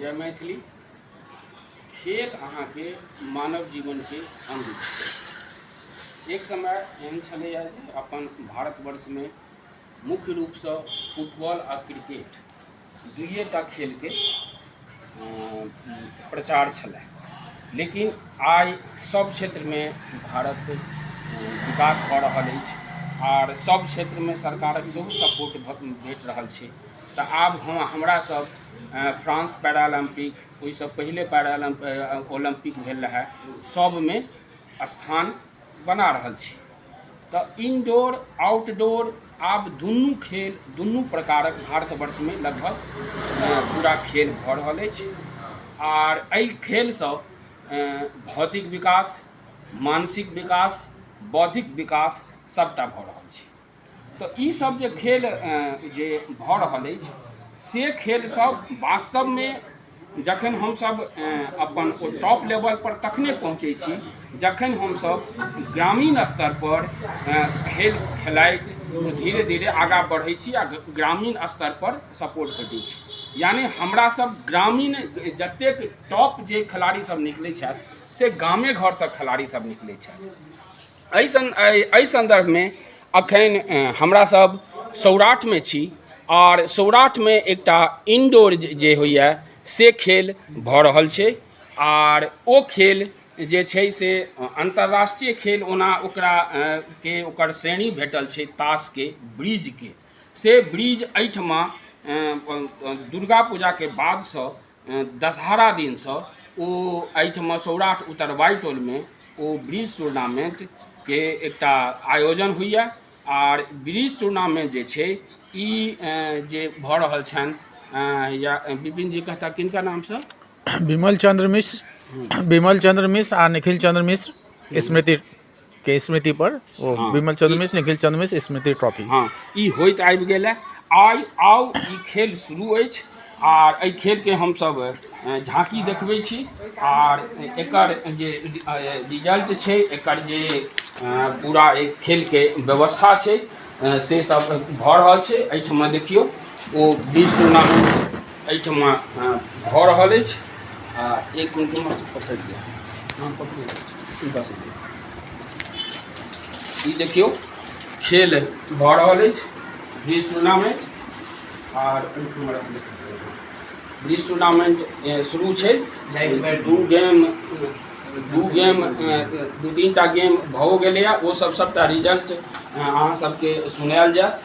जय मैथिली खेल अहाँके मानव जीवनके अंग छै एक समय एहन छलैए जे अपन भारतवर्षमे मुख्य रूपसँ फुटबॉल आ क्रिकेट दुइए टा खेलके अ, प्रचार छलै लेकिन आइ सब क्षेत्रमे भारत अ, विकास भऽ रहल अछि आर सब क्षेत्रमे सरकारक सेहो सपोर्ट भेट रहल छै तऽ आब हँ हमरा सब फ्रांस पैरालम्पिक ओहिसँ पहिले पैरालम्प ओलम्पिक भेल रहए सभमे स्थान बना रहल छी तऽ इनडोर आउटडोर आब दुनू खेल दुनू प्रकारक भारतवर्षमे लगभग पूरा खेल भऽ रहल अछि आर एहि खेलसँ भौतिक विकास मानसिक विकास बौद्धिक विकास सभटा भऽ रहल छै तऽ ई सब जे खेल जे भऽ रहल अछि से खेल सब वास्तवमे जखन हमसब अपन ओ टॉप लेवल पर तखने पहुँचै छी जखन हमसब ग्रामीण स्तर पर खेल खेलाइत धीरे धीरे आगाँ बढ़ै छी आ ग्रामीण स्तर पर सपोर्ट भेटै छी यानि हमरा सब ग्रामीण जतेक टॉप जे खेलाड़ी सब निकलै छथि से गामे घरसँ खेलाड़ी सब निकलै छथि एहि सं एहि सन्दर्भमे अखन हमरा सब सौराठमे छी आर सौराठमे एकटा इनडोर जे होइए से खेल भऽ रहल छै आर ओ खेल जे छै से अन्तर्राष्ट्रीय खेल ओना ओकरा के ओकर श्रेणी भेटल छै तासके ब्रिजके से ब्रिज एहिठमा दुर्गा पूजाके बादसँ दशहरा दिनसँ ओ एहिठमा सौराठ उत्तरवारि टोलमे ओ ब्रिज टूर्नामेन्टके एकटा आयोजन होइए आर ब्रिज टूर्नामेन्ट जे छै ई जे भऽ रहल छनि या विपिन जी कहता किनका नामसँ विमल चन्द्र मिश्र विमल चन्द्र मिश्र आ निखिल चन्द्र मिश्र स्मृति के स्मृति पर ओ हाँ, विमल चंद्र मिश्र निखिल चंद्र मिश्र स्मृति ट्रॉफी हाँ ई होइत आबि गेल है आइ आउ ई खेल शुरू अछि आर एहि खेलके हमसभ झाँकी देखबै छी आर एकर जे रिजल्ट छै एकर जे पूरा एहि खेलके व्यवस्था छै से सब भऽ रहल छै एहिठमा देखियौ ओ बीस टूर्नामेंट एहिठाम भऽ रहल अछि आ एक कुंटुम पकड़ि दिअ हम पकड़ि हुनका सबके ई देखियौ खेल भऽ रहल अछि ब्रिज टूर्नामेंट आर ओहिठाम ब्रिज टूर्नामेंट ए, शुरू छै दू गेम दू गेम ए, दू तीन टा गेम भऽ गेलैए ओ सब सबटा रिजल्ट अहाँ सबके सुनायल जायत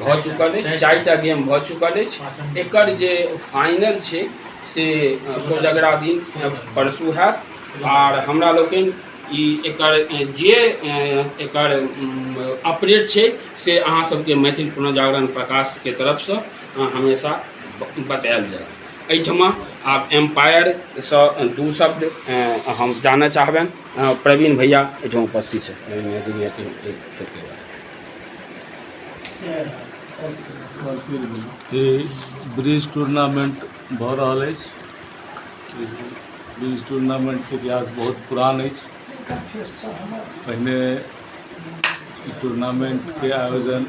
भऽ चुकल अछि चारिटा गेम भऽ चुकल अछि एकर जे फाइनल छै से कोजगरा दिन परसू हैत आर हमरा लोकनि ई एकर जे एकर अपडेट छै से अहाँ सबके मैथिल पुनर्जागरण प्रकाशके तरफसँ हमेशा बतायल जायत एहिठमा आब एम्पायरसँ दू शब्द हम जानय चाहबनि प्रवीण भैया एहिठाम उपस्थित छथि ई ब्रिज टूर्नामेंट भऽ रहल अछि ई ब्रिज टूर्नामेंटके इतिहास बहुत पुरान अछि पहिने ई टूर्नामेंटके आयोजन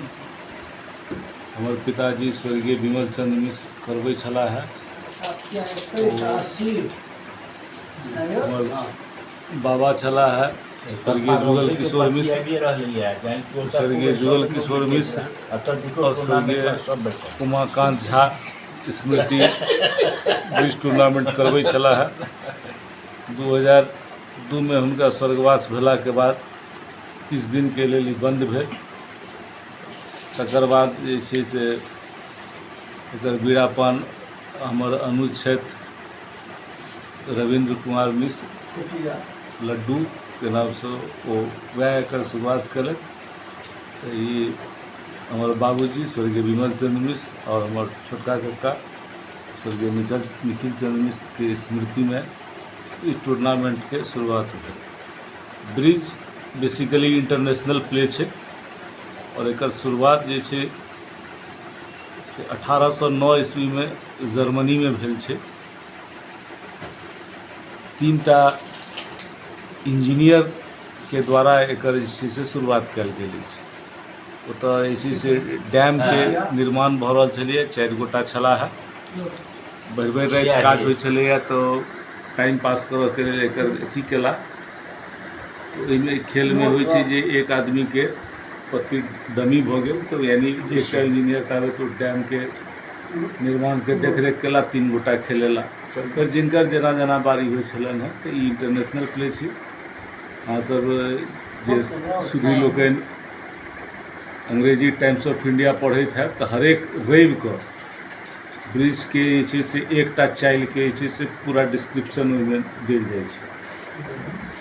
हमर पिताजी स्वर्गीय विमल चंद्र मिश्र करबै छलाह हमर बाबा छलाह स्वर्गीय जुगल किशोर मिश्र स्वर्गीय जुगल किशोर मिश्र और स्वर्गीय उमाकांत झा स्मृति बीस टूर्नामेंट करबै छलाह दू हजार दूमे हुनका स्वर्गवास भेलाके बाद किछु दिनके लेल ई बन्द भेल तकर बाद जे छै से एकर बीड़ापन हमर अनुज छथि रवीन्द्र कुमार मिश्र लड्डूके नामसँ ओ वएह एकर शुरुआत केलथि तऽ ई हमर बाबूजी स्वर्गीय विमल चन्द्र मिश्र आओर हमर छोटका कक्का स्वर्गीय निखिल निखिल चन्द्र मिश्रके स्मृतिमे ई टूर्नामेंटके शुरुआत भेल ब्रिज बेसिकली इंटरनेशनल प्ले छै आओर एकर शुरुआत जे छै से अठारह सए नओ ईस्वीमे जर्मनीमे भेल छै तीन टा इंजीनियरके द्वारा एकर जे छै से शुरुआत कयल गेल अछि ओतय जे छै से डैमके निर्माण भऽ रहल छलैए चारि गोटा छलाह भरि भरि राति काज होइ छलैए तऽ टाइम पास करयके लेल एकर अथी केला ओहिमे खेलमे होइ छै जे एक आदमीके पति डमी भऽ गेल तऽ यानि एकटा इंजीनियर ताबे तक डैमके निर्माणके देखरेख कएला तीन गोटा खेलेला फेर जिनकर जेना जेना बारी होइ छलनि हेँ तऽ ई इंटरनेशनल प्ले छी अहाँसभ जे सुधी लोकनि अंग्रेजी टाइम्स ऑफ इंडिया पढ़ैत हैत तऽ हरेक रविके ब्रिजके जे छै से एकटा चालिके जे छै से पूरा डिस्क्रिप्शन ओहिमे देल जाइ छै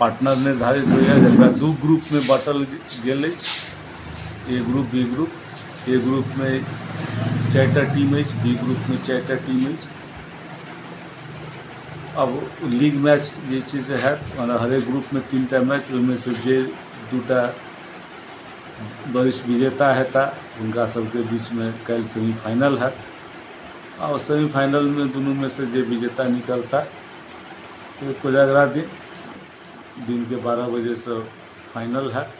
पार्टनर निर्धारित होइए जकरा दू ग्रुपमे बाँटल गेल अछि A group B group A ग्रुपमे चारिटा टीम अछि बी ग्रुपमे चारिटा टीम अछि अब लीग मैच जे छै से हैत मने हरेक ग्रुपमे तीन टा मैच ओहिमे से जे दूटा वरिष्ठ विजेता हेता हुनका सबके बीचमे काल्हि सेमीफाइनल हैत आओर सेमीफाइनलमे दुनूमे से जे विजेता निकलता से कोजागरा दिन दिनके बारह बजेसँ फाइनल हैत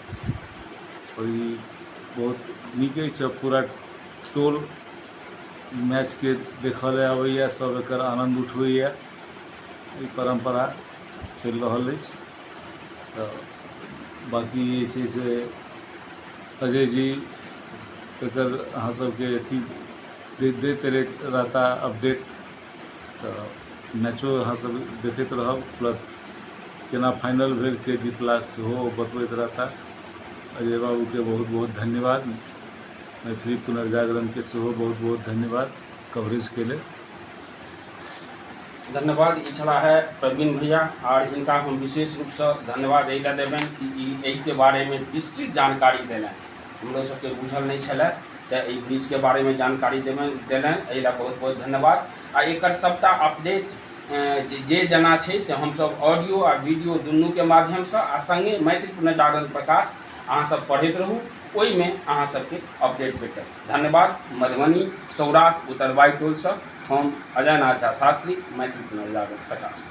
आओर ई बहुत नीक अछि पूरा टोल मैचके देखऽ लए अबैए सब एकर आनन्द उठबैए ई परम्परा चलि रहल अछि तऽ बाकी जे छै से अजय जी एकर अहाँ सबके अथी दैत दैत रहता अपडेट तऽ मैचो अहाँ सब देखैत रहब प्लस केना फाइनल भेल के जीतला सेहो ओ बतबैत रहता अजय बाबूके बहुत बहुत धन्यवाद मैथिली पुनर्जागरणके सेहो बहुत बहुत धन्यवाद कवरेजके लेल धन्यवाद ई छला है प्रवीण भैया आर हिनका हम विशेष रूपसँ धन्यवाद एहि लए देबनि कि ई एहिके बारेमे विस्तृत जानकारी देलनि हमरो सबके बुझल नहि छलै तऽ एहि ब्रिजके बारेमे जानकारी देबनि देलनि एहि लए बहुत बहुत धन्यवाद आ एकर सभटा अपडेट अ, जे जे जेना छै से हमसभ ऑडियो आ वीडियो दुनूके माध्यमसँ आ सङ्गे मैथिल पुनर्जागरण प्रकाश अहाँसभ पढ़ैत रहू ओहिमे अहाँ सबके अपडेट भेटत धन्यवाद मधुबनी सौराठ उत्तरबाई टोलसँ हम अजय नाथ झा शास्त्री मैथिल पुनर्जागरण प्रकाश